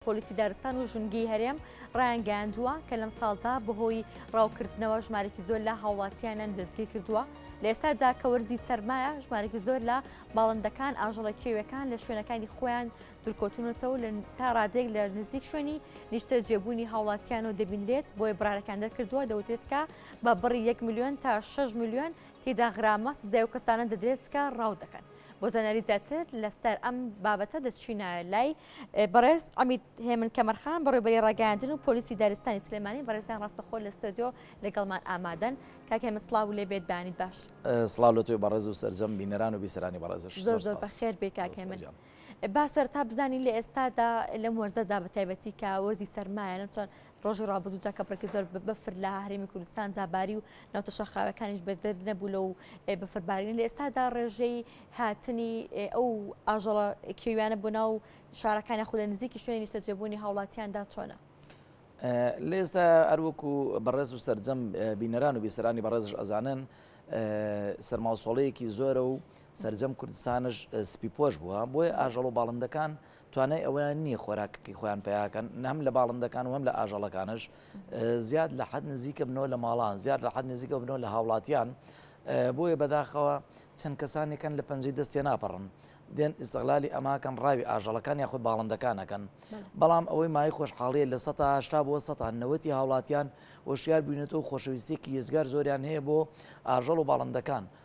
پۆلیسی دارستان و ژنگیی هەرێم ڕایانگەیاندووە کە لەم ساڵدا بەهۆی ڕاوکردنەوە ژمارێکی زۆر لە هاوڵاتییانیان دەستگیر کردووە، لە ئێستادا کە وەرزی سەرمایە ژمارێکی زۆر لە باڵندەکان، ئاژەڵە کێوییەکان لە شوێنەکانی خۆیان دوورکەوتوونەتەوە و تا ڕادەیەک لە نزیک شوێنی نیشتەجێبوونی هاوڵاتییانەوە دەبینرێت، بۆیە بڕارەکان دەرکردووە دەوترێت کە بە بڕی یەک ملیۆن تا شەش ملیۆن تێدا غرامە سزای ئەو کەسانە دەدرێت کە ڕاو دەکەن. بۆ زانیاری زیاتر لەسەر ئەم بابەتە دەچینە لای بەڕێز عمید هێمن کەمەرخان بەڕێبەری ڕاگەیاندن و پۆلیسی دارستانی سلێمانی بەڕێزیان ڕاستەخۆ لە ستۆدیۆ لەگەڵمان ئامادەن کاک هێمن سڵاو لێ بێت بەیانیت باش سڵاو لە تۆی بەڕێز و سەرجەم بینەران و بیسەرانی بەڕێزش زۆر زۆر بەخێر بێ کاک هێمن با سەرتا بزانین لە ئێستادا لەم وەرزەدا بە تایبەتی کە وەرزی سەرمایە نەتوان ڕۆژی ڕابردوودا کە بڕێکی زۆر بەفر لە هەرێمی کوردستان جاباری و ناوچە شاخاوەکانیش بەدەر نەبوو لەو بەفربارینە، لە ئێستادا ڕێژەی هاتنی ئەو ئاژەڵە کێویانە بۆ ناو شارەکان یاخود لە نزیکی شوێنی نیشتەجێبوونی هاوڵاتیاندا چۆنە؟ لە ئێستا هەروەکو بەڕێز و سەرجەم بینەران و بیسەرانی بەڕێزش ئەزانن سەرماوسۆڵەیەکی زۆرە و سەرجەم کوردستانش سپی پۆش بووە بۆیە ئاژەڵ و باڵندەکان توانای ئەوەیان نییە خۆراکەکەی خۆیان پیاکەن نەم لە باڵندەکان و هەم لە ئاژەڵەکانش زیاد لە حەد نزیکە بنەوە لە ماڵان زیاد لە حەد نزیکە بنەوە لە هاوڵاتیان بۆیە بەداخەوە چەند کەسانێکن لە پەنجەی دەستێ ناپەڕن دێن ئیسغلالی ئەماکەن ڕاوی ئاژەڵەکان یاخود باڵندەکانەکەن بەڵام ئەوەی مای خۆشحاڵیە لە سە هشتا بۆ سە نەوەتی هاوڵاتیان وەشیار بووینێتەوە خۆشەویستێکی یزگار زۆریان هەیە بۆ ئاژەڵ و باڵندەکان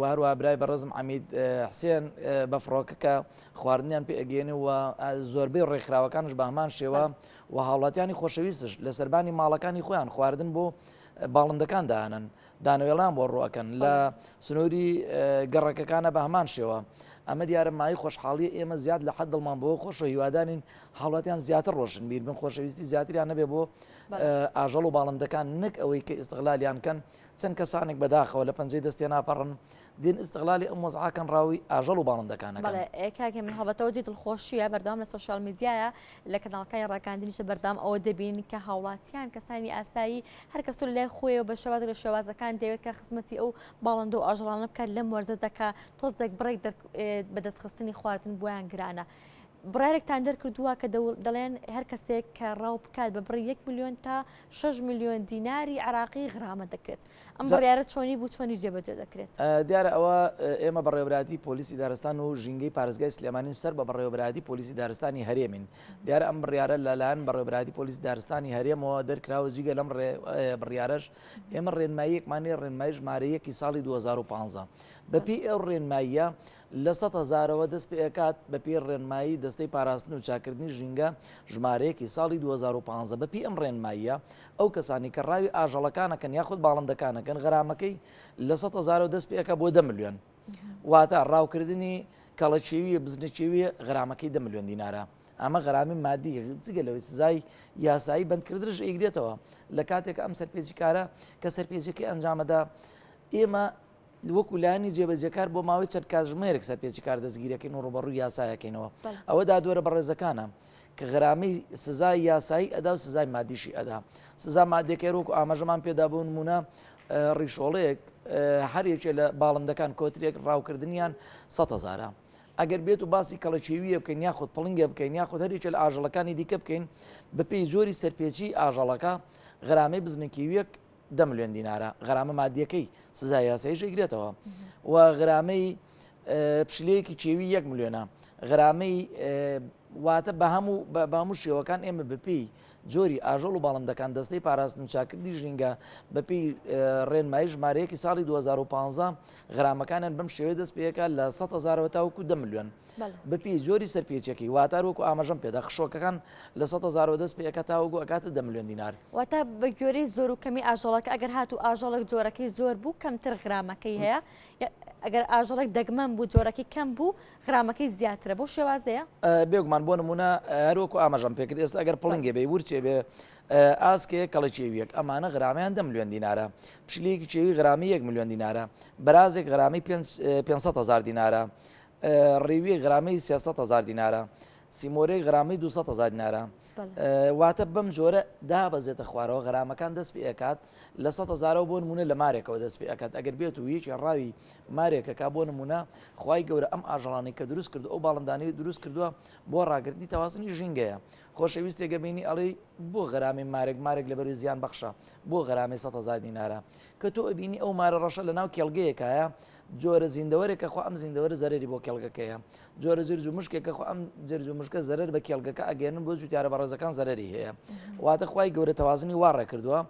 وەهەروەها برای بەڕێزم عەمید حسێن بە فڕۆکەکە خواردنیان پێ ئەگەێنێ و زۆربەی ڕێکخراوەکانش بە هەمان شێوە و هاوڵاتیانی خۆشەویستش لە سەربانی ماڵەکانی خۆیان خواردن بۆ باڵندەکان دانن دانەوێڵان بۆ ڕوەکەن لە سنووری گەڕەکەکانە بە هەمان شێوە ئەمە دیارە مای خۆشحاڵی ئێمە زیاد لە حد دڵمان بۆ خۆش و هیوادانین هاوڵاتیان زیاتر ڕۆشن بیر بن خۆشەویستی زیاتریان نەبێ بۆ ئاژەڵ و باڵندەکان نەک ئەوەی کە ئستغلالیان کەن چەند کەسانێک بەداخەوە لە پەنجەی دەست تێناپەڕن، دێن ئیستغلالی ئەم وەزعە کەن ڕاووی ئاژەڵ و باڵندەکان ئەکەن. بەڵێ کاک هێمن هەڵبەتە ئەوە جێی دڵخۆشییە، بەردەوام لە سۆشیال میدیایە، لە کەناڵەکانی ڕاگەیاندنیشدا بەردەوام ئەوە دەبین کە هاوڵاتیان کەسانی ئاسایی هەر کەس و لە لای خۆی و بە شێوازێک لە شێوازەکان دەیەوێت کە خزمەتی ئەو باڵندە و ئاژەڵانە بکات لەم وەرزەدا کە تۆزێک بڕێک بەدەستخستنی خواردن بۆیان گرانە. بڕیارێکتان دەرکردووە کە دەڵێن هەر کەسێک کە ڕاو بکات بە بڕی یەک میلیۆن تا 6 میلیۆن دیناری عراقی غرامە دەکرێت ئەم بڕیارە چۆنی بوو چۆنیش جێبەجێ دەکرێت دیارە ئەوە ئێمە بەڕێوەبراتی پۆلیسی دارستان و ژینگەی پارێزگای سلێمانین سەر بە بەڕێوەبراتی پۆلیسی دارستانی هەرێمین دیارە ئەم بڕیارە لەلایەن بەڕێوەبراتی پۆلیسی دارستانی هەرێمەوە دەرکراوە جیگە لەم بڕیارەش ئێمە ڕێنماییەکمانی ڕێنمای ژمارە یەکی ساڵی 2015 بەپی ئەو ڕێنماییە لە سەد هەزارەوە دەست پێئەکات، بەپێی ڕێنمایی دەستەی پاراستن و چاککردنی ژینگە ژمارەیەکی ساڵی دوو هەزار و پازدە. بەپێی ئەم ڕێنماییە، ئەو کەسانەی کە ڕاوی ئاژەڵەکانەکەن یاخود باڵندەکانەکەن غەرامەکەی لە سەد هەزارەوە دەست پێئەکات بۆ دە ملیۆن. واتە ڕاوکردنی کەڵە کێوییە بزنە کێوییە غەرامەکەی دە ملیۆن دینارە. ئەمە غەرامی مادی، جگە لەوەی سزای یاسایی بەندکردنش ئەیگرێتەوە. لە کاتێکا ئەم سەرپێچیکارە کە سەرپێچیەکەی ئەنجامەدا ئێمە، وەکو لایەنی جێبەجێکار بۆ ماوەی چەند کاتژمێرێک سەرپێچی کار دەستگیرەکەین و ڕوبەڕووی یاسایەکەینەوە ئەوە دادوەرە بەڕێزەکانە کە غرامەی سزای یاسایی ئەدا و سزای مادیشی ئەدا سزا مادێکەر وەکو ئاماژەمان پێدا بوون مونە ڕیشۆڵێک هەرێکێ لە باڵندەکان کۆترێک ڕاوکردنیان سە هزارە ئەگەر بێت و باسی کەڵەچێویە بکەین یاخود پڵنگە بکەین یاخود هەرێکە لە ئاژەڵەکانی دیکە بکەین بەپی زۆری سەرپێچی ئاژەڵەکە غرامەی بزنکیویەک دە ملیۆن دینارە غەرامە مادیەکەی سزای یاسایش ئەیگرێتەوە و غرامەی پشلەیەکی کێوی یەک ملیۆنە غرامەی واتە بە هەموو بە هەموو شێوەکان ئێمە بپی جۆری ئاژۆڵ و باڵندەکان دەستەی پاراستن و چاکردی ژینگە بەپی ڕێنمایی ژمارەیەکی ساڵی 2015 غرامەکانیان بەم شێوەیە دەست پێەکە لە 100 هزارەوە تاوکو دە ملیۆن. بەپێی جۆری سەرپێچیەکەی واتار وەکو ئاماژەم پێدا خشۆکەکان لە سە هزارۆ دەست پێکە تاوەگو ئەکاتە دە ملیۆن دینار واتە بە گوێرەی زۆر و کەمی ئاژەڵەکە ئەگەر هات و ئاژەڵک جۆرەکەی زۆر بوو کەمتر غرامەکەی هەیە ئەگەر ئاژەڵک دەگمەن بوو جۆرەکەی کەم بوو غرامەکەی زیاترە بۆ شێوازەیە بێگومان بۆ نمونە هەروەکو ئاماژەم پێکرد ئێستا ئەگەر پڵنگێ بێ ورچێ بێ ئاسکێ کەڵی چێویەک ئەمانە غرامیان دە ملیۆن دینارە پشلێکی چێوی غرامی یەک ملیۆن دینارە بەرازێک غرامی 500 هزار دینارە ڕیوی غرامەی سێ سەد هەزار دینارە، سیمۆرەی غرامەی دوو سەد هەزار دینارە. واتە بەم جۆرە دابەزێتە خوارەوە غرامەکان دەست پێ ئەکات لە سەد هەزارەوە بۆ نموونە لە مارێکەوە دەست پێ ئەکات ئەگەر بێت و یەکی ڕاوی مارێکەکە بۆ نموونە خوای گەورە ئەم ئاژەڵانی کە دروست کرد ئەو باڵندانەی دروست کردووە بۆ ڕاگرتنی تەوازنی ژینگەیە خۆشەویستێکە بینی ئەڵی بۆ غرامی مارێک مارێک لە بەروی زیان بەخشە بۆ غرامی سە هزار دینارە کە تۆ ئەبینی ئەو مارە ڕەشە لە ناو کێڵگەیەکایە جۆرە زیندەوەرێکە خۆ ئەم زیندەوەرە زەرەری بۆ کێڵگەکەیە، جۆرە جرج و مشکێکە خۆ ئەم جرج و مشکە زەرەر بە کێڵگەکە ئەگەیەنن بۆ جووتیارە بەڕێزەکان زەرەری هەیە، واتە خوای گەورە تەوازنی وا ڕێ کردووە،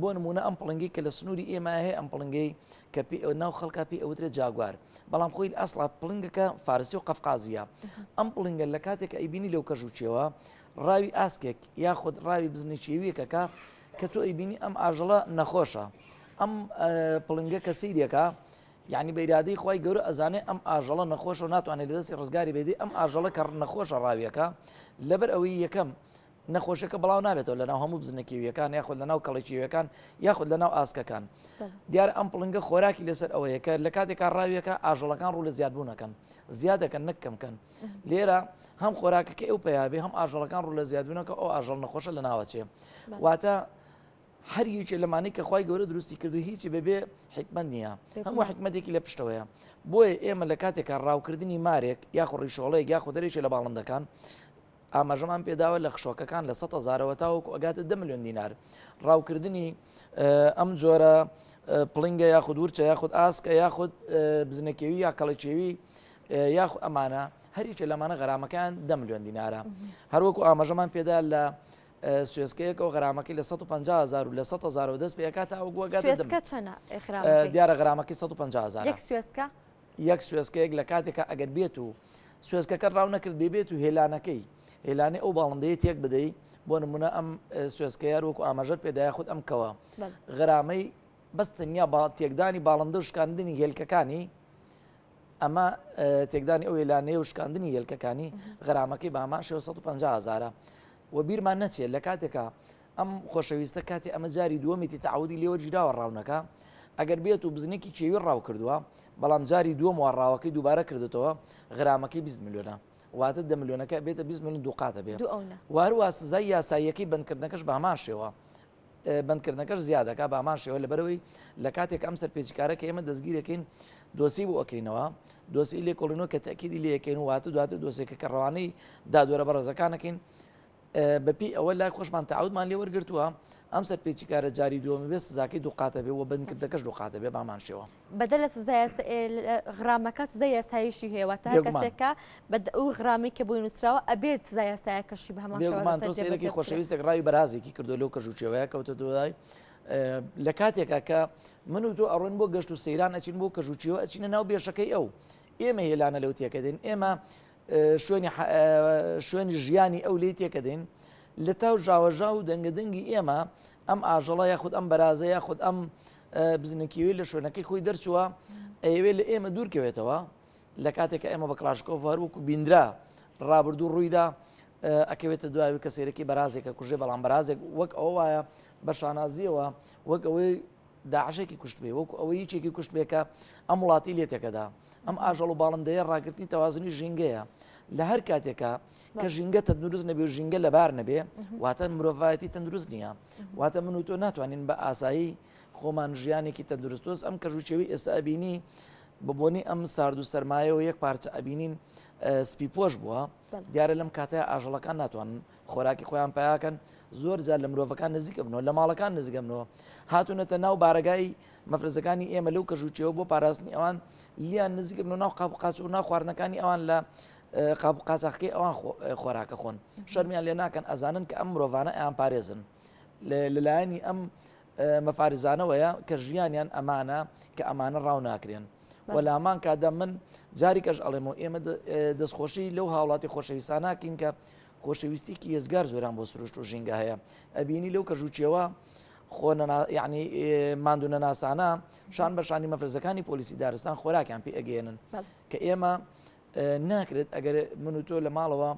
بۆ نموونە ئەم پڵنگەی کە لە سنووری ئێمە هەیە ئەم پڵنگەی کە پێ ئەو ناو خەڵکە پێ ئەوترێت جاگوار بەڵام خۆی ئەسڵا پڵنگەکە فارسی و قەفقازیە ئەم پڵنگە لە کاتێک ئەیبینی لەو کەژ و چێوە ڕاوی ئاسکێک یاخود ڕاوی بزنی چێویەکەکە کە تۆ ئەیبینی ئەم ئاژەڵە نەخۆشە ئەم پڵنگە کە سیرەکە یعنی بە ئرادەی خی گەورە ئەزانێ ئەم ئاژەڵە نەخۆش و ناتوانێت لە دەستی ڕزگاری بێدی ئەم ئاژەڵە کە نەخۆشە ڕاویەکە لەبەر ئەوەی یەکەم نەخۆشەکە بڵاو نابێتەوە لەناو هەموو بزنەکیویەکان یاخود لەناو کەڵێکیویەکان یاخود لەناو ئاسکەکان دیار ئەم پڵنگە خۆراکی لەسەر ئەوەیەکە لە کاتێکا ڕاویەکە ئاژەڵەکان ڕوو لە زیادبوونەکەن زیادەکەن نەکەمکەن لێرە هەم خۆراکەکە ئەو پیاێ هەم ئاژەڵەکان ڕوو لە زیادبوونەکە ئەو ئاژەڵ نەخۆشە لە ناوەچێ واتە هەر یوکێ لەمانەی کە خخوای گەورە دروستی کردو هیچی بەبێ حکمت نییە هەموو حکمەتێکی لە پشتەوەیە بۆیە ئێمە لە کاتێکە ڕاوکردنی مارێک یاخۆ ڕیشۆڵەیە یاخۆ دەرێکی لە باڵندەکان ئاماژەمان پێداوە لە خشۆکەکان لە سە زارەوە تاوەکو ئەگاتە دە میلیۆن دینار ڕاوکردنی ئەم جۆرە پڵنگە یاخود ورچە یاخود ئاسکە یاخود بزنەکەوی یا کەڵەکێوی یاخو ئەمانە هەریکە لەمانە غەرامەکان دە میلیۆن دینارە هەروەکو ئاماژەمان پێدا لە سوێسکەیەکەوە غرامەکەی لە 150هزار و لە 100هزار و دەست پێکات ئەو گوگەکە چەنە دیارە غرامەکەی 150هزار سوێسکە یەک سوێسکەیەک لە کاتێکە ئەگەر بێت و سوێسکەکە ڕاو نەکرد بێبێت و هێلانەکەی هێلانێ ئەو باڵندەیە تێک بدەی بۆ نمونە ئەم سوێسکەیە وەکو ئاماژەر پێدای خودت ئەم کەوە غرامەی بەس تەنیا با تێکدانی باڵندە و شکاندنی هێلکەکانی ئەمە تێکدانی ئەو هێلانەیە و شکاندنی هێلکەکانی غەرامەکەی بە هەمان شێوە 150 هزارە و بیرمان نەچێت لە کاتێکا ئەم خۆشەویستە کاتی ئەمە جاری دووەمیتی تعودی لێوەرگیراوە ڕاونەکە ئەگەر بێت و بزنێکی کێوی ڕاو کردووە بەڵام جاری دووەم وڕاوەکەی دووبارە کردێتەوە غرامەکەی 20 میلیۆنە واتە دە میلیۆنەکە بێتە 20 میلیون دووقاتە بێت واروا سزای یاساییەکەی بندکردنەکەش بە هەمان شێوە بەندکردنەکەش زیا دەکات بە هەمان شێوە لەبەرەوەی لە کاتێک ئەم سەرپێچیکارە کە ئێمە دەستگیرەکەین دۆسی بۆ ئەکەینەوە دۆسی لێکۆڵینەوە کە تاکیدی لەکەین واتە دواتر دۆسێکە کە ڕەوانەی دادوەرە بەڕێزەکانەکەین بەپی ئەوە لای خۆشمان تاودمان لێ وەرگتووە ئەم سەرپێچیکارە جاری دووەمی بێ سزاکەی دووقاتە بێ و بنکردەکەش دووقاتە بێ بامان شێوە بەدەر لە سزای یاسا- ئێ لە غرامەکە سزای یاساییشی هەیە، واتە هەر یەک مانگ. کەسێک کە بە دە ئەو غرامەی کە بۆی نووسراوە ئەبێت سزای یاسایەکەشی بە هەمان بێگومان شێوازە تۆ سەر سەیرێکی جێبەجێ بکرێت. خۆشەویستێک ڕای بەرازێکی کردووە لەو کەژ و چێوەیە کەوتە دوای لە کاتێکا کە من و تۆ ئەڕۆین بۆ گەشت و سەیران ئەچین بۆ کەژ و چێوە ئەچینە ناو بێشەکەی ئەو ئێمە هێلانە لەو تێکەدەین ئێمە شوێنی شوێنی ژیانی ئەو لێی تێکەدەین لە تاو ژاوەژاو و دەنگە دەنگی ئێمە ئەم ئاژەڵە یاخود ئەم بەرازە یاخود ئەم بزنکیوی لە شوێنەکەی خۆی دەرچووە ئەیەوێ لە ئێمە دوورکەوێتەوە لە کاتێک ئێمە بە کلاشکۆف هەروەکو بیندرا ڕابردوو ڕوویدا ئەکەوێتە دواوی کە سێرەکی بەرازێکە کوژێ بەڵام بەرازێک وەک ئەو وایە بە شانازیەوە وەک ئەوەی داعشێکی کوشتبێ وەکو ئەوە یەکێکی کوشتبێ کە ئەم وڵاتی لێ تێکەدا ئەم ئاژەڵ و باڵندەیە ڕاگررتنی تەوازنی ژینگەیە لە هەر کاتێکە کە ژینگە تەندروست نەبێ و ژینگە لەبار نەبێ واتە مرۆڤایەتی تەندروست نییە واتە من و تۆ ناتوانین بە ئاسایی خۆمان ژیانێکی تەندروستۆس ئەم کەژوچێوی ئێستا ئەبینی بە بۆنی ئەم سارد و سەرمایەوە یەک پارچە ئەبینین سپی پۆش بووە دیارە لەم کاتەیا ئاژەڵەکان ناتوانن خۆراکی خۆیان پەیا کەن، زۆر جار لە مرۆڤەکان نزیک ئەبنەوە، لە ماڵەکان نزیک ئەبنەوە، هاتوونەتە ناو بارەگای مەفرەزەکانی ئێمە لەو کەش و چێوە بۆ پاراستنی ئەوان لیان نزیک ئەبنەوە ناو قاپ و قاچ و ناو خواردنەکانی ئەوان لە قاپ و قاچاخەکەی ئەوان خۆراکە خۆن شەرمیان لێ ناکەن ئەزانن کە ئەم مرۆڤانە ئەیان پارێزن لەلایەنی ئەم مەفارزانەوەیە کە ژیانیان ئەمانە کە ئەمانە ڕاو ناکرێن و لامان کادە من جاریکەش ئەڵێمەوە ئێمە دەستخۆشی لەو هاوڵاتی خۆشەویستانناکەین کە خۆشەویستیکی هێزگار زۆران بۆ سروشت و ژینگە هەیە ئەبینی لەو کەژوچیەوە خۆ یعنی مادو نەناسانە شان بەشانی مەفرزەکانی پۆلیسی دارستان خۆراکیان پێ ئەگەێنن کە ئێمە ناکرێت ئەگەر من و تۆ لە ماڵەوە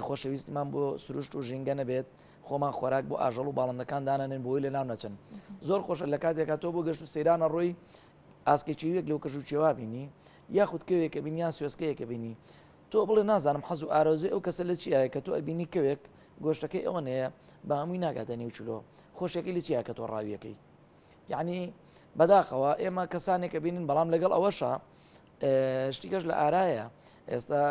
خۆشەویستیمان بۆ سروشت و ژینگە نەبێت خۆمان خۆراک بۆ ئاژەڵ و باڵندەکان دانانێن بۆی لە ناو نەچن زۆر خۆشە لە کاتێکا تۆ بۆ گەشت و سەیرانە ڕۆی ئاسکێکیوێک لەو کەژ و چێوا بینی یاخود کەوێکە بین یان سوێسکەیەکە بینی تۆ بڵێ نازانم حەز و ئارۆزی ئەو کەسە لە چیە کە تۆ ئەبینی کەوێک گۆشتەکەی ئەوە نەیە بە هەمووی ناگاتە نێوچلۆ خۆشەکەی لە چیە کە تۆ ڕاویەکەی یعنی بەداخەوە ئێمە کەسانێکە بینین بەڵام لەگەڵ ئەوەشە شتیکەش لە ئارایە ئێستا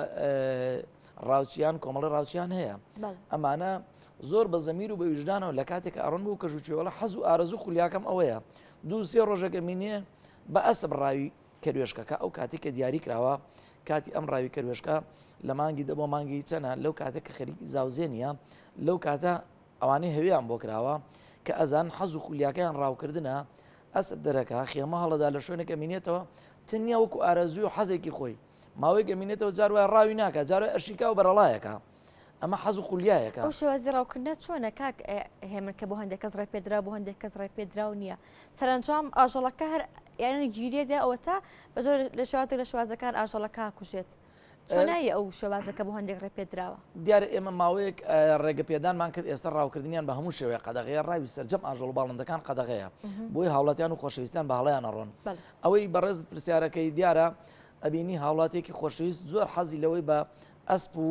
ڕاوچیان کۆمەڵی ڕاوچیان هەیە ئەمانە زۆر بە زەمیر و بە ویژدانەوە لە کاتێک ئارون بوو کە ژوچێوەڵە حەز و ئارزو خولیاکەم ئەوەیە دوو سێ ڕۆژەکە مینێ بە ئەسب ڕاوی کەروێشکەکە ئەو کاتی کە دیاری کراوە کاتی ئەم ڕاوی کەروێشکە لە مانگی دە بۆ مانگی چەنە لەو کاتێک کە خەریکی زاوزێنە لەو کاتە ئەوانەی هەویان بۆ کراوە کە ئەزان حەز و خولیاکەیان ڕاوکردە ئەسپ دەرەکە، خێمە هەڵەدا لە شوێنێک ئەمینێتەوە تەنیا وەکو ئارەزووی و حەزێکی خۆی، ماوەیەک ئەمینێتەوە جار وایە ڕاوی ناکا جار وایە ئەشیکا و بەرەڵایەکە، ئەمە حەز و خولیایەکە. ئەو شێوازی ڕاوکردنە چۆنە کاک هێمن کە بۆ هەندێک کەس ڕێپێدراو بۆ هەندێک کەس ڕێپێدراو نییە، سەرەنجام ئاژەڵەکە هەر یان گیرێ دێ ئەوەتا بە زۆر لە شێوازێک لە شێوازەکان ئاژەڵەکە ئاکوژێت، چۆن ناوی ئەو شێوازە کە بۆ هەندێک ڕێ پێ دراوە؟ دیارە ئێمە ماوەیەک ڕێگە پێدانمان کرد ئێستا ڕاوکردنیان بە هەموو شێوەیە قەدەغەیە ڕاوی سەرجەم ئاژەڵ و باڵندەکان قەدەغەیە بۆی هاوڵاتیان و خۆشەویستان بە هەڵەیان ئەڕۆن ئەوەی بەڕێزت پرسیارەکەی دیارە ئەبینی هاوڵاتیەکی خۆشەویست زۆر حەزی لەوەی بە ئەسپ و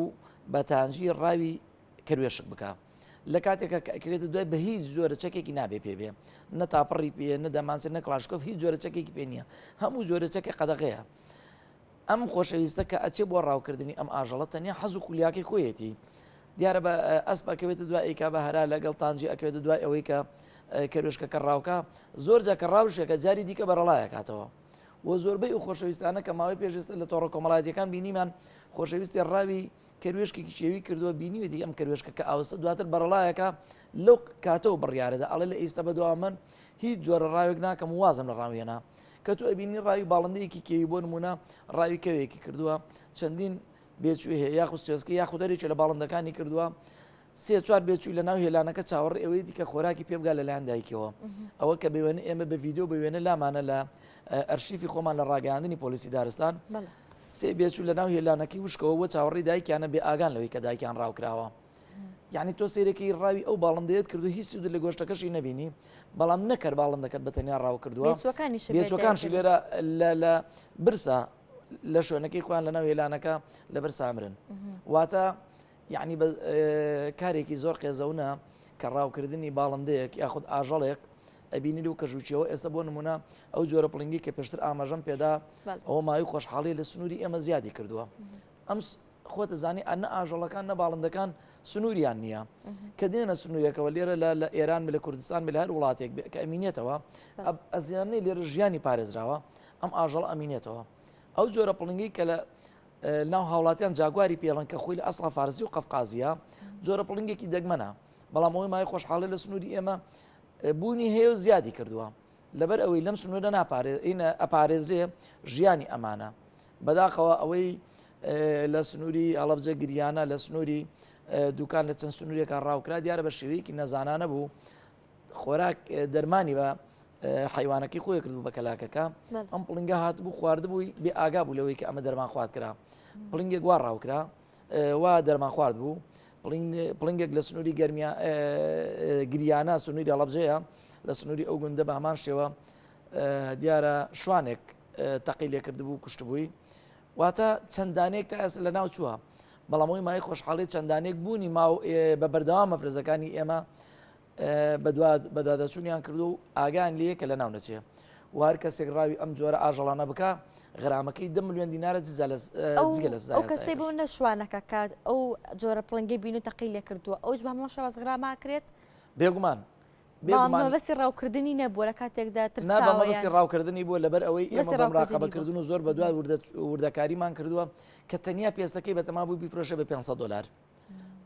بە تانجی ڕاوی کەروێشک بکە لە کاتێکە کە ئەکرێتە دوای بە هیچ جۆرە چەکێکی نابێ پێ بێ نە تاپەڕی پێ نە دەمانچێت نە کلاشکۆف هیچ جۆرە چەکێکی پێ نییە هەموو جۆرە چەکێک قەدەغەیە ئەم خۆشەویستە کە ئەچێ بۆ ڕاوکردنی ئەم ئاژەڵە تەنیا حەز و خولیاکەی خۆیەتی دیارە بە ئەسپ ئەکەوێتە دوای ئەیکا بە هەرا لەگەڵ تانجی ئەکەوێتە دوای ئەوەی کە کەرۆشکەکە ڕاوکە زۆر جا کە ڕاوشەکە جاری دیکە بەرەڵایەکاتەوە و زۆربەی و خۆشەویستانە کە ماوەی پێشێستا لە تۆڕە کۆمەڵاتیەکان بینیمان خۆشەویستی ڕاوی کەروێشکێکیشی ئەوی کردووە بینیوێتی ئەم کەروێشکە کە ئاوسە دواتر بەڕەڵایەکە لەو کاتەوە بڕیارەدا ئەڵێ لە ئیستە بەدوا من هیچ جۆرە ڕاوێک ناکەم و وازم لە ڕاوێنا کە تو ئەبینی ڕاوی باڵندەیەکی کێوی بۆ نمونە ڕاوی کەوێکی کردووە چەندین بێچوێ هەیە یاخود سوێسکە یاخود دەرێکی لە باڵندەکانی کردووە سێ چوار بێچووی لە ناو هێلانەکە چاوەڕێی ئەوەی دیکە خۆراکی پێ بگا لەلایەن دایکەوە ئەوە کە بێوێنە ئێمە بە ڤیددیو بە وێنە لامانە لە ئەرشیفی خۆمان لە ڕاگەاندنی پۆلیسی دارستان سێ بێچوو لە ناو هێلانەکەی وشکەوە بۆ چاوەڕی دایکیانە بێ ئاگان لەوەی کە دایکیان ڕاوکراوە یعنی تۆ سێرەکەی ڕاوی ئەو باڵندەیەت کردو هیچ سود لە گۆشتەکەشی نبینی بەڵام نەکەر باڵندەکەت بە تەنیا ڕاو کردووە بێچەکانشی لێرە لە برسا لە شوێنەکەی خۆیان لە ناو هێلانەکە لەبەر سامرن واتە یەعنی بە کارێکی زۆر قێزەونە کە ڕاوکردنی باڵندەیەک یاخود ئاژەڵێک ئەبینی لەو کەژ و چێوە ئێستا بۆ نمونە ئەو جۆرە پڵنگی کە پێشتر ئاماژەم پێدا بەڵێ. ئەوە ماوەی خۆشحاڵی لە سنووری ئێمە زیادی کردووە ئەم س- خۆتە زانی ئەنە ئاژەڵەکان نە باڵندەکان سنووریان نییە کە دێنە سنوورەکەەوە لێرە لە لە ئێران بە لە کوردستان بە لە هەر وڵاتێک بێ کە ئەمینێتەوە ئەب ئەزیانەی لێرە ژیانی پارێزراوە ئەم ئاژەڵ ئەمینێتەوە ئەو جۆرە پڵنگی کە لە ناو هاوڵاتیان جاگواری پێڵن کە خۆی لە ئەسڵا فارسی و قەفقازییە، جۆرە پڵنگێکی دەگمەنە، بەڵام ئەوەی مایەی خۆشحاڵی لە سنووری ئێمە بوونی هەیە و زیادی کردووە. لەبەر ئەوەی لەم سنوورە ناپارێزرێ ژیانی ئەمانە. بەداخەوە ئەوەی لە سنووری هەڵەبجە گریانە، لە سنووری دووکان لە چەند سنوورێکا ڕاوکرا دیارە بە شێوەیەکی نەزانانە بوو، خۆراک دەرمانی بە حیوانەکەی خۆی کردو بە کەلاکەکە ئەم پڵنگە هات بوو خواردبووی بێ ئاگا بوو لەوەی کە ئەمە دەرمان خوارد کرا پڵنگێک وا ڕاوکرا وا دەرمان خوارد بوو پڵنگێک لە سنووری گەرمیا گریانە سنووری هەڵبجەیە لە سنووری ئەو گوندە بە هەمان شێوە دیارە شوانێک تەقی لێ کردبوو کوشتبووی واتە چەند دانەیەک تا ئێستا لەناو چووە، بەڵام ئەوەی مایەی خۆشحاڵییە چەند دانەیەک بوونی ماوە و بە بەردەوام مەفرەزەکانی ئێمە بەدواداچوونیان کردووە و ئاگایان لێیە کە لەناو نەچێ و هەر کەسێک ڕاوی ئەم جۆرە ئاژەڵانە بکا غرامەکەی دە ملیۆن دینارە جگە لە جگە لە سزای ئەو کەسەی بۆ هەستاهێنەر. نەشوانەکە کە ئەو جۆرە پڵنگەی بینی و تەقی لێ کردووە ئەوش بە هەمان شێواز غراماکرێت؟ بێگومان بەڵام مەبەستی ڕاوکردنی نەبووە لە کاتێکدا ترساوە مەبەستی ڕاوکردنی بووە لەبەر ئەوەی ئێمە بەم ڕاقەبەکردن و زۆر بە دوای وردەکاریمان کردووە کە تەنیا پێستەکەی بەتەما بوو بیفرۆشە بە 500 دلار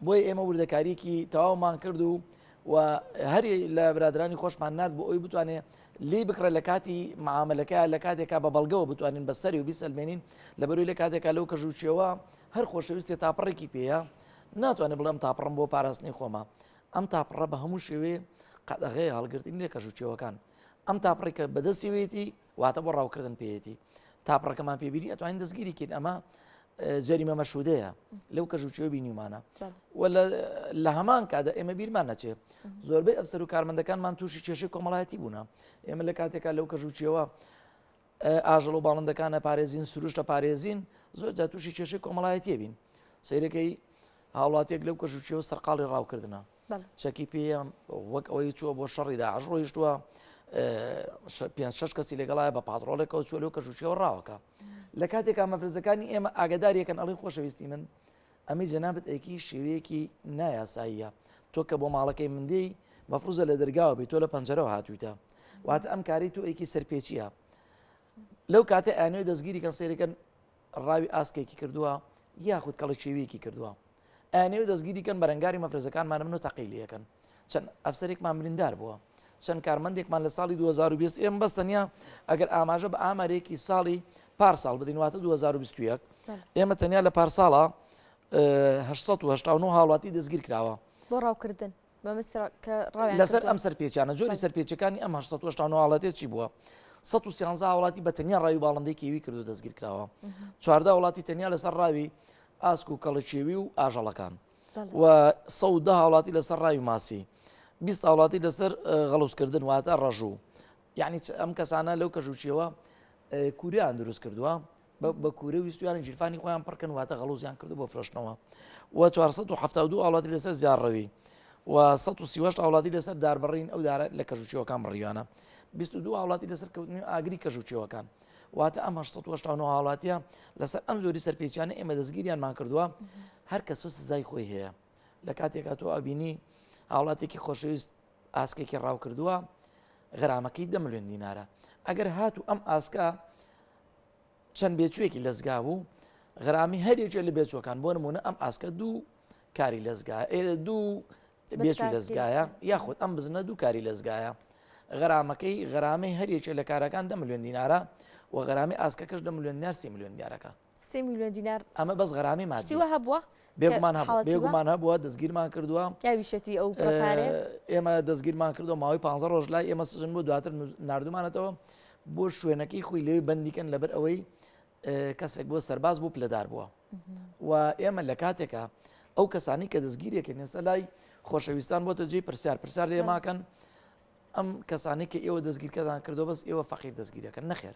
بۆی ئێمە وردەکاریکی تەواومان کرد و و هەری لە برادرانی خۆشمان نرد بۆ ئەوی بتوانێت لی بکڕە لە کاتی معاملەکە لە کاتێکا بە بەڵگەوە بتوانین بە سەری و بیسەلمێنین لە بەروی لە کاتێکا لەو کەژوچیەوە هەر خۆشەویستێ تاپەڕێکی پێەیە ناتوانێت بڵێم تاپڕم بۆ پاراستنی خۆمە ئەم تاپڕە بە هەموو شێوێ قەدەغەیە هەڵگرتنی لە کەش و چێوەکان ئەم تاپڕی کە بەدەستیوێتی واتە بۆ ڕاوکردن پێێتی تاپڕەکەمان پێبیری ئەتوانین دەستگیری کرد ئەمە جەریمە مەشودەیە لەو کەژ و چێو بینیمانە لە هەمان کادا ئێمە بیرمان نەچێت زۆربەی ئەفسەر و کارمەندەکانمان تووشی کێشی کۆمەڵایەتی بوون ئێمە لە کاتێکا لەو کەژ و چێوە ئاژەڵ و باڵندەکان ئەپارێزین، سروشت ئەپارێزین، زۆر جار تووشی کێشەی کۆمەڵایەتیە بین. سەیرەکەی هاوڵاتیەک لەو کەژوچیەوە سەرقاڵی ڕاوکردنە چەکی پێە وەک ئەوەی چووە بۆ شەڕی داعش ڕۆیشتووە پێ شش کەسی لەگەڵایە بە پادڕۆڵێکەوە چوە لەو کەژوچیەوە ڕاوەکە لە کاتێکا مەفرزەکانی ئێمە ئاگداریەکەن ئەڵی خۆشەویستی من ئەمەی جەنابت ئەیکەی شێوەیەکی نایاساییە تۆ کە بۆ ماڵەکەی من دێی مەفروزە لە دەرگاوە بێت تۆ لە پەنجەرەوە هاتوویتە واتە ئەم کاری تۆ ئەیکی سەرپێچیە لەو کاتە ئەنوێ دەستگیری کەن سێرەکەن ڕاوی ئاسکێکی کردووە یاخود کەڵە شێویەکی کردووە ئەنێو دەستگیری کەن بەرەنگاری مەفرزەکانمان منۆ تەقیلیەکەن چەند ئەفسەرێکمان بریندار بووە چەند کارمەندێکمان لە ساڵی 2020 ئێم بەس تەنیا ئەگەر ئاماژە بە ئامارێکی ساڵی پارساڵ بدەین واتە 2021 ئێمە تەنیا لە پارساڵە 1970 هاوڵاتی دەستگیر کراوە بۆ ڕاوکردن لەسەر ئەم سەر پێچانە جۆری سەر پێچەکانی ئەم 1970 چی بووە 113 وڵاتی بە تەنیا ڕاوی باڵندێکیوی کردو دەستگیر کراوە چواردا وڵاتی تەنیا لەسەر ڕاوی ئاسک و کەڵکیێوی و ئاژەڵەکان و سەد و دە هاوڵاتی لەسەر ڕاوی ماسی بیست هاوڵاتی لەسەر غەڵوسکردن واتە ڕەژوو یعنی ئەم کەسانە لەو کەژوچیەوە کوریان دروست کردووە بە کوورە ویستویان جیرفانی خۆیان پڕکەن واتە غەڵوزیان کرد بۆ فرۆشتنەوە و 1970 وڵاتی لەسەر زیارڕەوی و 1970 وڵاتی لەسەر داربڕین ئەو دارە لە کەژوچیەوەکان بڕیوانە 22 وڵاتی لەسەر کەوتنی ئاگری کەژوچیەوەکان واتە ئەم 1970 هاوڵاتیە لەسەر ئەم جۆری سەرپێچیانە ئێمە دەستگیریانمان کردووە هەر کەس و سزای خۆی هەیە لە کاتێکا تۆ ئەبینی هاوڵاتێکی خۆشەویست ئاسکێکی ڕاو کردووە غرامەکەی دە ملیۆن دینارە ئەگەر هاتو ئەم ئاسکە چەند بێچوێکی لەزگا بوو غرامی هەریێکێ لە بێچوەکان بۆ نمونە ئەم ئاسکە دوو کاری لەزگا ئێرە دوو بێچووی دەزگایە یاخود ئەم بزنە دوو کاری لەزگایە غەرامەکەی غەرامەی هەریەکێ لە کارەکان دە ملیۆن دینارە و غەرامی ئاسکەکەش دە ملیۆن دینار سی ملیۆن دیارەکە سی ملیۆن دینار ئەمە بەس غەرامی مادیوە هەبووە بێگومان بێگومان هەبووە دەستگیرمان کردووە یاویشەتی ئەو ئێمە دەستگیرمان کردو ماوەی پ ڕۆژ لای ئێمە سژن بۆ دواتر نردومانەتەوە بۆ شوێنەکەی خۆی لەوێ بەندیکەن لەبەر ئەوەی کەسێک بۆ سەرباز بوو پلەدار بووە و ئێمە لە کاتێکا ئەو کەسانی کە دەستگیرێکن ئێستا لای خۆشەویستان بۆتە جێی پرسیار پرسیار لێ ماکەن ئەم کەسانی کە ئێوە دەستگیرکەدان کردو بەس ئێوە فەقیر دەستگیرەکەن نەخێر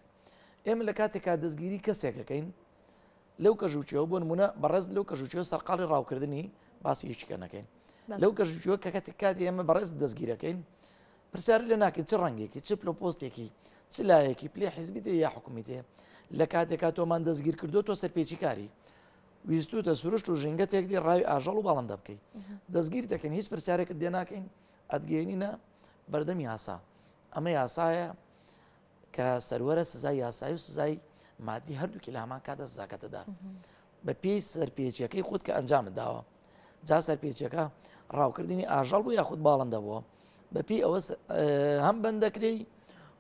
ئێمە لە کاتێکا دەستگیری کەسێکەکەین لەو کەژوچەوە بۆ نمونە بەڕێز لەو کەژوچەوە سەرقاڵی ڕاوکردنی باسی هیچکەنەکەین لەو کەژوچوە کە کاتێک کاتی ئێمە بەڕێز دەستگیرەکەین پرسیاری لێ ناکەی چ ڕەنگێکی چ پلۆ پۆستێکی چ لایەکی پلێ حیزبی دێ یا حکومی دێ لە کاتێکا تۆمان دەستگیر کردو تۆ سەرپێچی کاری ویستوتە سروشت و ژینگە تێکدی ڕاوی ئاژەڵ و باڵندە بکەیت دەستگیر دەکەن هیچ پرسیارێکت دێ ناکەین ئەدگەێنینە بەردەمی یاسا ئەمە یاسایە کە سەروەرە سزای یاسایی و سزای مادی هەردووکی لە هەمان کاتە سزاکەتەدا بە پێی سەرپێچیەکەی خودت کە ئەنجامت داوە جا سەرپێچەکە ڕاوکردنی ئاژەڵ بوو یاخود باڵندە بووە بەپی ئەوە هەم بەندەکرێی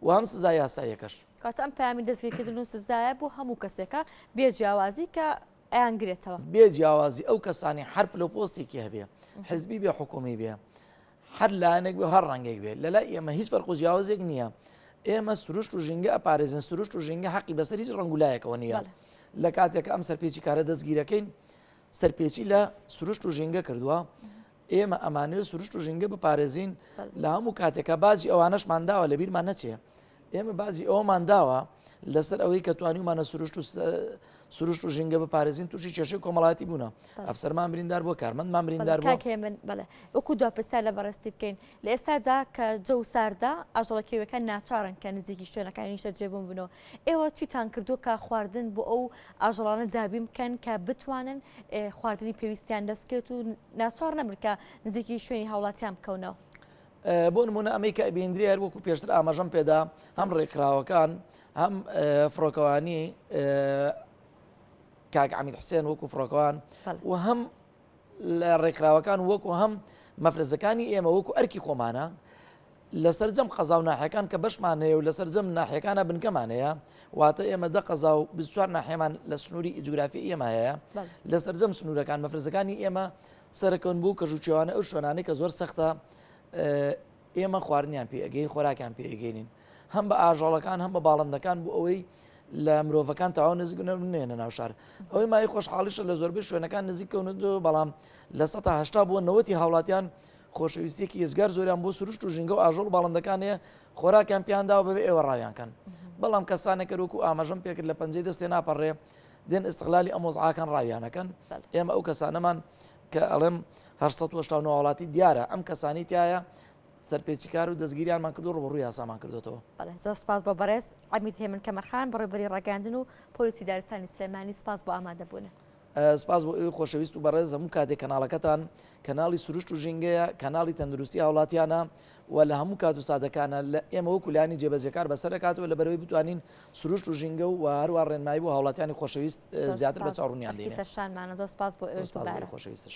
و هەم سزا یاسایەکەش کات ئەم پامی دەستگیرکردن و سزایە بۆ هەموو کەسێکە بێ جیاوازی کە ئەیانگرێتەوە بێ جیاوازی ئەو کەسانی حرپ لە پۆستێکی هەبێ حزبی بێ حکومی بێ هەر لایەنێک بێ و هەر ڕەنگێک بێ لەلای ئێمە هیچ فەرق و جیاوازێک نییە ئێمە سروشت و ژینگە ئەپارێزن سروشت و ژینگە حەقی بەسەر هیچ ڕەنگ و لایەکەوە نییە بەڵێ. لە کاتێک ئەم سەرپێچی کارە دەستگیرەکەین سەرپێچی لە سروشت و ژینگە کردووە ئێمە ئەمانەوێت سروشت و ژینگە بپارێزین بەڵێ. لە هەموو کاتێکە باجی ئەوانەشمان داوە لە بیرمان نەچێ ئێمە باجی ئەوەمان داوە لەسەر ئەوەی کە توانیمانە سروشت و سروشت و ژینگە بپارێزین تووشی کێشەی کۆمەڵاتی بوونە ئەفسەرمان بریندار بۆ کارمەندمان بریندار من بڵێ وەکو دو پرسا لە بەڕستی بکەین لە ئێستادا کە جە و ساردا ئاژەڵە کێوەکان ناچارن کە نزیکی شوێنەکانی شە جێبوون بنەوە ئێوە چیتان کردو کە خواردن بۆ ئەو ئاژەڵانە دابیم بکەن کە بتوانن خواردنی پێویستیان دەستکێت و ناچار نەمرکە نزیکی شوێنی هاوڵاتیان بکەونەوە بۆ نموونە ئەمەی کە ئەبیندرێ هەر وەکو پێشتر ئاماژەم پێدا هەم ڕێکخراوەکان هەم فڕۆکەوانی کاک عمید حسێن وەکو فڕۆکەوان و هەم لە ڕێکخراوەکان وەکو هەم مەفرزەکانی ئێمە وەکو ئەرکی خۆمانە لە سەررجەم قەزا و ناحەکان کە بەشمان هەیە و لە سەررجەم ناحەکانە بنکەمان هەیە واتە ئێمە دە قەزا و بچوار ناحێمان لە سنووری ئیجگرافی ئێمە هەیە لە سەررجەم سنوورەکان مەفرزەکانی ئێمە سەرەکەون بۆ کەژو چێوانەی ئەو شوێنانەی کە زۆر سەختە ئێمە خواردنیان پێ ئەگەین خۆراکیان پێ ئەگەینین هەم بە ئاژەڵەکان هەم بە باڵندەکان بۆ ئەوەی لە مرۆڤەکان تاوا نزیک نێنە ناو شار ئەوەی مای خۆشحاڵیشە لە زۆربەی شوێنەکان نزیکەون دو بەڵام لە سە هشتا بۆ نەوەتی هاوڵاتیان خۆشەویستێکی یزگار زۆریان بۆ سروشت و ژینگە و ئاژۆڵ باڵندەکان هەیە خۆراکیان پیاندا و بەبێ ئێوە ڕاویانکەن بەڵام کەسانێکەرۆک و ئاماژەم پێکرد لە پەنجەی دەستێ ناپەڕێ دێن ئستغلالی ئەم وەزعاکان ڕاویانەکەن ئێمە ئەو کەسانەمان کە ئەڵێم هەر وڵاتی دیارە ئەم کەسانی تایە سەرپێچکار و دەستگیریانمان کردو ڕوبڕوی یاسامان کردوەوە زۆر سپاس بۆ بەڕێز ئەمیت هێمن کەمەرخان بڕێبری ڕگەاندن و پۆلیسی دارستانی سلێمانی سپاس بۆ ئامادەبوونە. سپاس بۆ ئەوی خۆشەویست و بەڕێز هەموو کاتێک کەناڵەکەتان کەناڵی سروشت و ژینگەیە کەناڵی تەندروستی هاوڵاتیانە و لە هەموو کات و سادەکانە لە ئێمە وەکولانی جێبەجەکار بەسەرکاتەوە لە بەرەوەی بتوانین سروشت و ژینگە و هەروە ڕێنمایی بۆ هاوڵاتیانی خۆشەویست زیاتر بە چاوڕونیان دێنێ. سەرشانمانە زۆر سپاس بۆ ئێوەش دووبارە. خۆشەویستش.